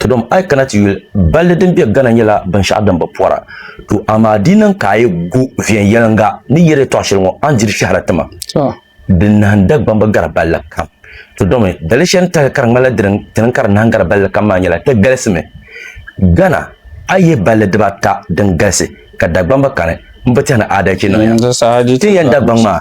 To dom a yi kana ti yuli, balli din be Ghana nyɛla binshɛɣu din bi pɔra. To amaa di niŋ ka a yi gu viɛnyɛliŋga ni yɛri yɛtɔɣ shɛli ŋɔ, a ni diri shɛhira ti ma. Di nahim Dagbam bi gari balli kam. To domi dali shɛli ni tahili ka di ŋmanila di ni ti niŋ ka di nahim gari balli kam maa nyɛla ti galisimi. Ghana, a yihi balli dibaata din galisi ka Dagbamba kani m-bi tɛhi ni aadalichi niŋya. Ti ni yɛn Dagbaŋ maa.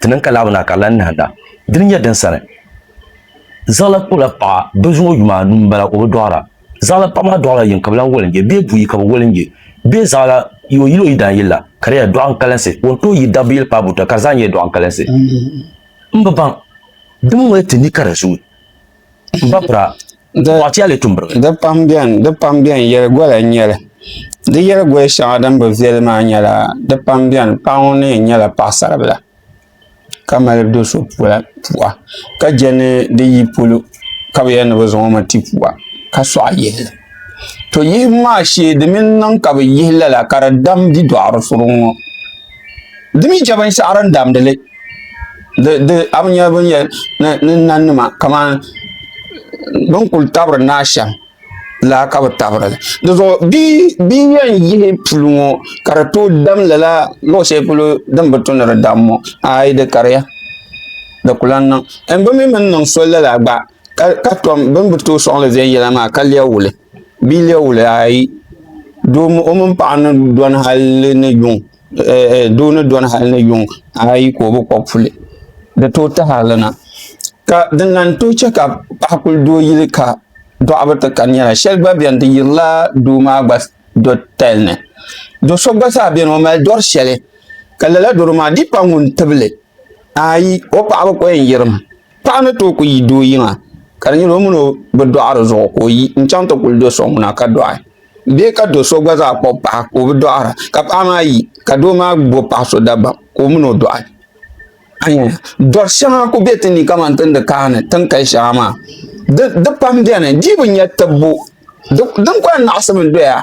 Ti niŋ ka laɣibu na ka di lan nahinda. Dini nyɛ din sani. Zaɣila kpibila paɣa bɛ zuŋɔ yuma anu m-bala o bi dɔɣira. Zaɣila paɣa maa dɔɣila yiŋ ka bɛ lan woli n-je bee buyi ka bɛ woli n-je bee zaɣila yi o yili o yidaanyili la ka di nyɛla dɔɣinkalinsi o ni tooi yi dabbu yili paai buta ka di zaa nyɛla dɔɣinkalinsi. M bi baŋ. Di mi ŋɔya ti ni ka di zooi. Bapra, Bɔɣitɛli tumbiriba. Di pam bɛn, di pam bɛn, yɛligola n-nyɛli. Di yɛligoya shɛŋa din bi viɛli maa nyɛla, di pam bɛn, paɣa ŋun ni yɛn nyɛla paɣisaribila ka mali do so pua ka je ni di yi polo ka bɛ yɛli ni bɛ zaŋ o mi ti pua ka sɔɣ yihi li. To yihibu maa shee di mi niŋ ka bɛ yihi lala ka di dam bidɔɣirisuŋ ŋɔ. di mii chɛ binshɛɣu din damdi li di a bi nyɛ bin yɛn ni nahi nima kamani bi ni kuli tabiri nahi shɛm la ka bi tabirili dizuɣu bia n yɛn yihi puli ŋo ka di tooi dam lala luɣu shɛli polo din bi tu ni di dam ŋo aayi di kariya di ku lahi niŋ n bi mii mini niŋ soli lala gba ka tom bi ni bi tooi soŋli viɛnyɛla maa ka lɛbi wuli bia lɛbi wuli ayi doo o mini paɣa ni dɔni hali ni yuŋ doo ni dɔni hali ni yuŋ ayi ka o bi kɔbi puli di tooi tahali na ka din lahi tooi chɛ ka paɣa kuli doo yili ka dɔɣu bi ti kani nyɛla shɛli gba biɛni di yirila doo maa gba tali ni do so gba zaa biɛni o mali dɔri shɛli ka lala doro maa di yi kpa ŋun tibili Ayi, o paɣaba ko yɛn yirim. Paɣa ni tooi ku yi doo yiŋa ka di nyɛla o mini o bi dɔɣi di zuɣu ka o yi n-chaŋ ti kuli do so ŋuna ka dɔɣi bee ka do so gba zaa kpuɣi paɣa ka o bi dɔɣira ka paɣa maa yi ka doo maa bo paɣ so dabam ka o mini o dɔɣi. Dɔr shɛŋa ku be ti ni kamani ti ni di kaani tin kali shɛŋa maa di pam beni di bi nya tibbu din ku lahi naɣisimi doya.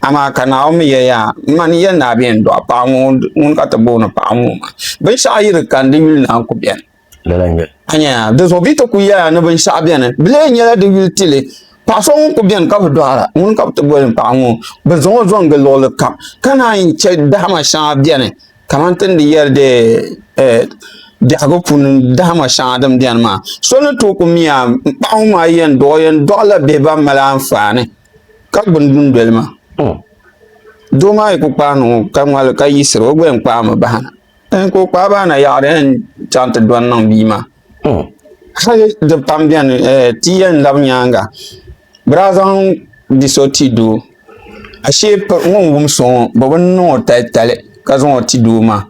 Amaa ka Naomi yɛya, M ma ni yɛn daa beni dɔɣi paɣa ŋɔ, ŋuni ka ti booni paɣa ŋɔ maa? Binshɛɣu yi di kani, di yuli naan ku beni. A nyaya? Di zuɣu bɛ yi ti ku yɛya ni binshɛɣu beni, bɛ lee nyɛla di yuli ti li. Paɣ so ŋun ku beni ka bi dɔɣira, ŋuni ka bɛ ti boli paɣa ŋɔ? Bɛ zaŋ o zɔŋgi luɣili kam, ka naan yi chɛ dahima shɛŋa beni, kamani ti ni di yɛri di biɛhigu puuni dahima shɛŋa din beni maa. So ni tooi ku miya, paɣa ŋɔ maa yɛn dɔɣi o yɛn dɔɣila bihi ban mali anfaani. Ka gbuni dundoli maa. Hmm. Doo maa yi ku kpaai niŋ ka ŋmali ka yiɣisiri o gba yɛn kpaai mi bahana. N ka o kpaai bahana yaɣari yɛn chaŋ ti dɔni niŋ bia maa. Hmm. Hali di pam bɛni eh, ti yɛn labi nyaanga bi daa zaŋ bia so ti doo ashee ŋun wum so ŋɔ bi bi niŋ o tali tali ka zaŋ o ti doo maa.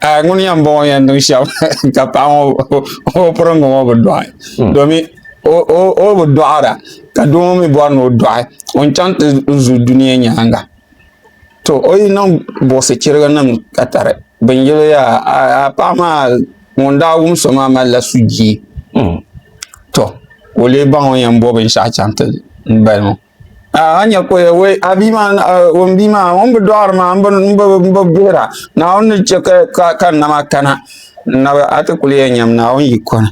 a ŋuni yɛn bɔŋɔ yɛn niŋ shɛm ka paɣa ŋɔ o piringi ŋɔ bi dɔɣi hmm. domi o bi dɔɣira ka doo ŋɔ mi bɔri ni o dɔɣi o ni chaŋ ti zu dunia nyaanga to o yi niŋ buɣisi chiriga nim ka tari bin yili yaa paɣa maa ŋun daa wum so maa mali la sujii hmm. to ka o lee baŋ o yɛn bɔ binshɛɣu chaŋ ti bali ŋɔ a nya ko ya wei a bia maa ŋun bia maa ŋun bi dɔɣiri maa n bi bihira naawuni ni chɛ ka ka nama kana nabi a ti kuli yɛn nyam naawuni yi kɔni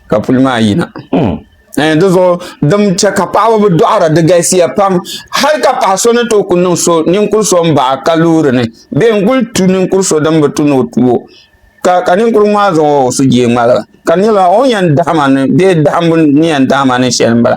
ka puli maa yina hmm. eh, di zuɣu din chɛ ka paɣaba bi dɔɣira di galisiya pam hali ka paɣa so ni tooi ku niŋ so ninkuri so n baɣa ka loori ni bee n kuli tu ninkuri so din bi tu ni o tuo ka ka ninkurigu maa zaŋ o sujee ŋmaligi ka di nyɛla o ni yɛn daɣama ni bee daɣambu ni yɛn daɣama ni shɛli n bala